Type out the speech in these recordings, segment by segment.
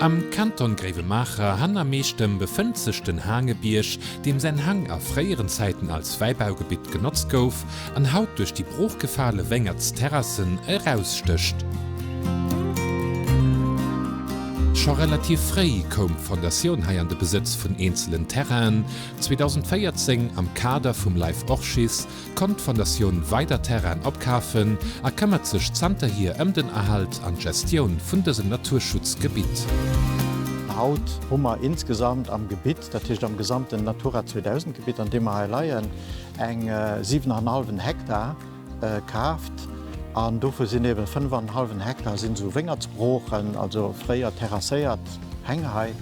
Am Kanton Gréiwemaacher, han a Meechtem, befënnt sech den Haangebierg, deem säin Hang a fréieren Zäiten als Wäibaugebitt genotzt gouf an haut duerch déi broochgefale Wéngertsterrassen erausstécht. Scho relativ fréi koum d'Fondatioun hei an de Besëtz vun eenzelen Terrainen, 2014 am Kader vum Life Orchis konnt d'Fondatioun weider Terrainen opkafen a këmmert sech zanterhier ëm den Erhalt an d'Gestioun vun dësem Naturschutzgebitt. Haut hu mer insgesamt am Gebitt, dat heescht am gesamten Natura 2000 Gebitt an deem mer hei leien, eng 7 an en hallwen Hektar kaaft an dovu sinn eebe 5 an en hallwen Hektar sinn esou Wéngertsbroochen, also fréier terrasséiert Häng hei.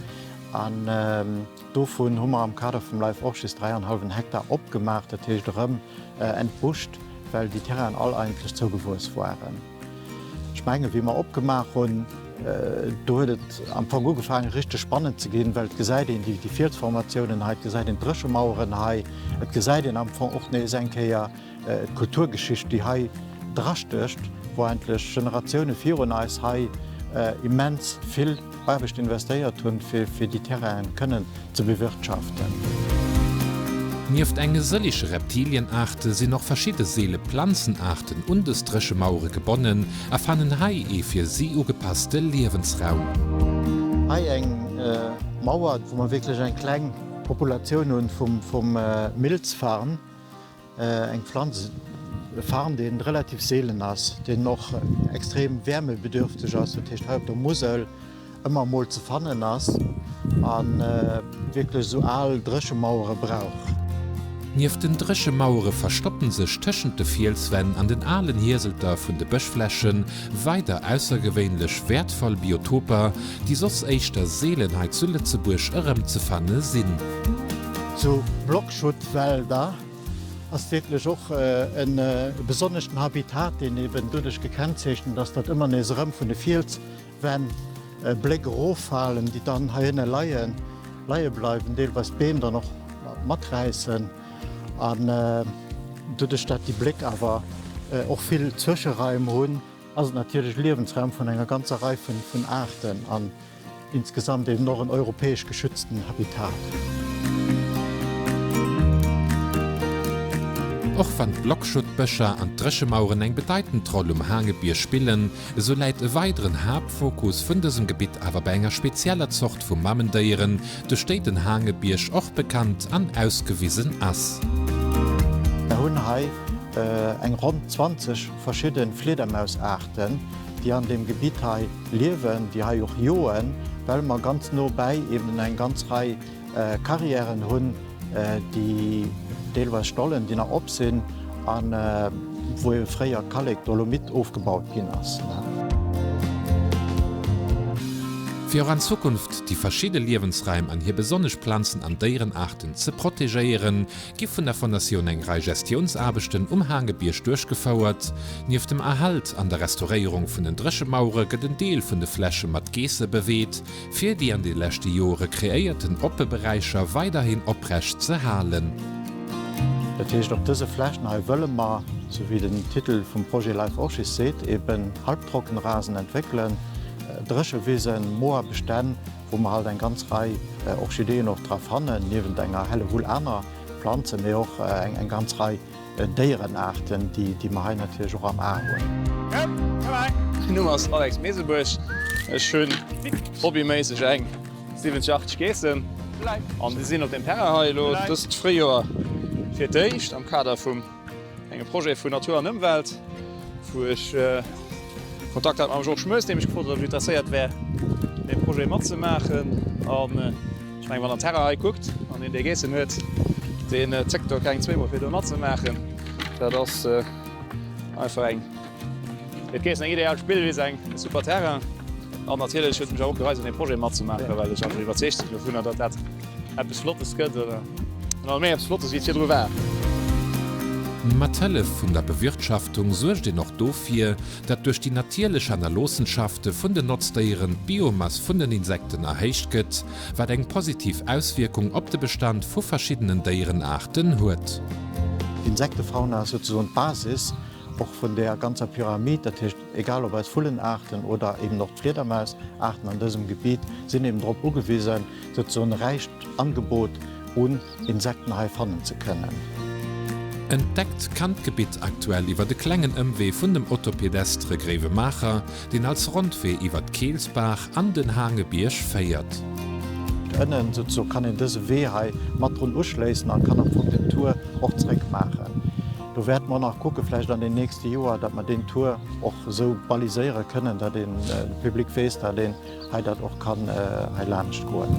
Dovun hu mer am Kader vum LIFE och just dräi an hallwen Hektar opgemaach, dat heescht erëm entbuscht, well déi Terrainen all eigentlech zougewuess waren. Ech mengen, wéi mer opgemaach hunn, do huet et am Fong ugefaangen, richteg spannend ze ginn, well et gesäit een déi Fielsformatiounen hei, et gesäit een d'Dréchemaueren hei, et gesäit een am Fong och nees eng Kéier, D'Kulturgeschicht, déi hei drastécht, wou endlech Generatioune virun eis hei immens vill Aarbecht investéiert hunn, fir déi Terrainen kënnen ze bewirtschaften. Nieft enge sëlleche Reptilienaarte sinn och verschidde seele Planzenaarten un dës Dréchemauere gebonnen a fannen hei ee fir si ugepasste Liewensraum. Hei eng Mauer, wou mer wierklech eng kleng Populatioun hu vum Milzfarn. Eng Pflanz, e Farn, deen relativ seelen ass, deen och extrem wärmebedürfteg ass, dat heescht hei op der Musel ëmmer emol ze fannen ass a wierklech esou al Dréchemauere brauch. Nieft den Dréchemauere verstoppen sech tëschent de Fielswänn an den alen Hieselter vun de Bëschfläche weider aussergewéinlech wäertvoll Biotoper, déi soss éischter seelen hei zu Lëtzebuerg erëmzefanne sinn. Zu Block Schuttwälder ass wierklech och e besonneschten Habitat, deen eben doduerch gekennzeechent ass, datt ëmmer nees erëm vun de Fielswänn Bléck eroffalen, déi dann heihinne leien, leie bleiwen, deelweis d'Beem dann och maträissen an doduerch datt déi Bléck awer och vill Zwëscheraim hunn, ass et natierlech Liewensraum vun enger ganzer Rei vun Aarten. Insgesamt eben och en europäesch geschützten Habitat. Och wann d'Blockschuttbëscher an d'Dréchemaueren eng bedeitend Roll um Haangebierg spillen, esou läit e weideren Haaptfokus vun dësem Gebitt awer bei enger spezieller Zort vu Mamendéieren, duerch déi den Haangebierg och bekannt an ausgewisen ass. Mer hunn hei eng ronn 20. Verschidden Fliedermausaarten déi an dem Gebitt hei liewen, déi hei och joen, well mer ganz no bäi eben eng ganz Rei Carrièren hunn, déi deelweis Stollen déi nach op sinn an wou eben fréier Kallek, Dolomit ofgebaut ginn ass. Fir och an Zukunft déi verschidde Liewensraim an hir besonnesch Planzen an Déierenaarten ze protegéieren, gi vun der Fondatioun eng Rei Gestiounsaarbechten um Haangebierg duerchgefouert. Nieft dem Erhalt an der Restauréierung vun den Dréchemauere gëtt en Deel vun de Fläche mat Geesse beweet, fir déi an de leschte Joere kreéierten oppe Beräicher weiderhin oprecht ze halen. Dat heescht, op dëse Flächen hei wëlle mer, sou wéi den Titel vum Projet Life Orchis seet, eben Halbtrockenrasen entwéckelen, Dréchewisen, Moorbestänn, wou mer halt eng ganz Rei Orchideeën och dra fannen, niewent enger Hellewull aner Planzen, mee och eng ganz Rei Déierenaarten, déi mer hei natierlech och am A hunn. Mäin Numm ass Alex Mesebuerg. Ech hunn hobbyméisseg eng 70, 80 Geessen an déi sinn op deem Terrain hei elo dëst Fréijoer fir d'éischt am Kader vum. Engem Projet vun Natur an Ëmwelt, wou ech Kontakt hat mam Georges Moes, dee mech gefrot huet, ob ech interesséiert wär, dee Projet matzemaachen. An ech mengen, wann der Terrain hei kuckt an een dee geissen huet, dee zéckt do keng zweemol, fir do matzemaachen. Dat ass einfach eng, fir d'Geissen, eng ideal Spillwiss, eng super Terrain. An natierlech huet et mech och gereizt, un deem Projet matzemaachen, well ech einfach iwwerzeegt sinn dovunner, datt dat eppes Flottes gëtt. Emol méi eppes Flottes wéi virdru war. Mat Hëllef vun der Bewirtschaftung suergt een och dofir, datt duerch déi natierlech Hannerloossenschafte vun den Notzdéieren d'Biomass vun den Insekten erhéicht gëtt, wat eng positiv Auswierkung op de Bestand vu verschiddenen Déierenaarten huet. D'Insektefauna ass souzesoen d'Basis och vun där ganzer Pyramid. Egal ob eis Vullenaarten oder eben och d'Fliedermaisaarten an dësem Gebiet sinn eben drop ugewisen, datt se en räicht Angebot un Insekten hei fannen ze kënnen. Entdeckt kann d'Gebitt aktuell iwwert e klengen Ëmwee vun dem Autopedestre Gréiwemaacher, deen als Rondwee iwwert d'Keelsbaach an den Haangebierg féiert. Ënnen kann een dëse Wee hei mat drun uschléissen a kann am Fong den Tour och zeréck maachen. Do wäerte mer nach kucke vläicht an den nächste Joer, datt mer deen Tour och esou baliséiere kënnen, datt de Public weess, datt een hei dat och kann hei laanscht goen.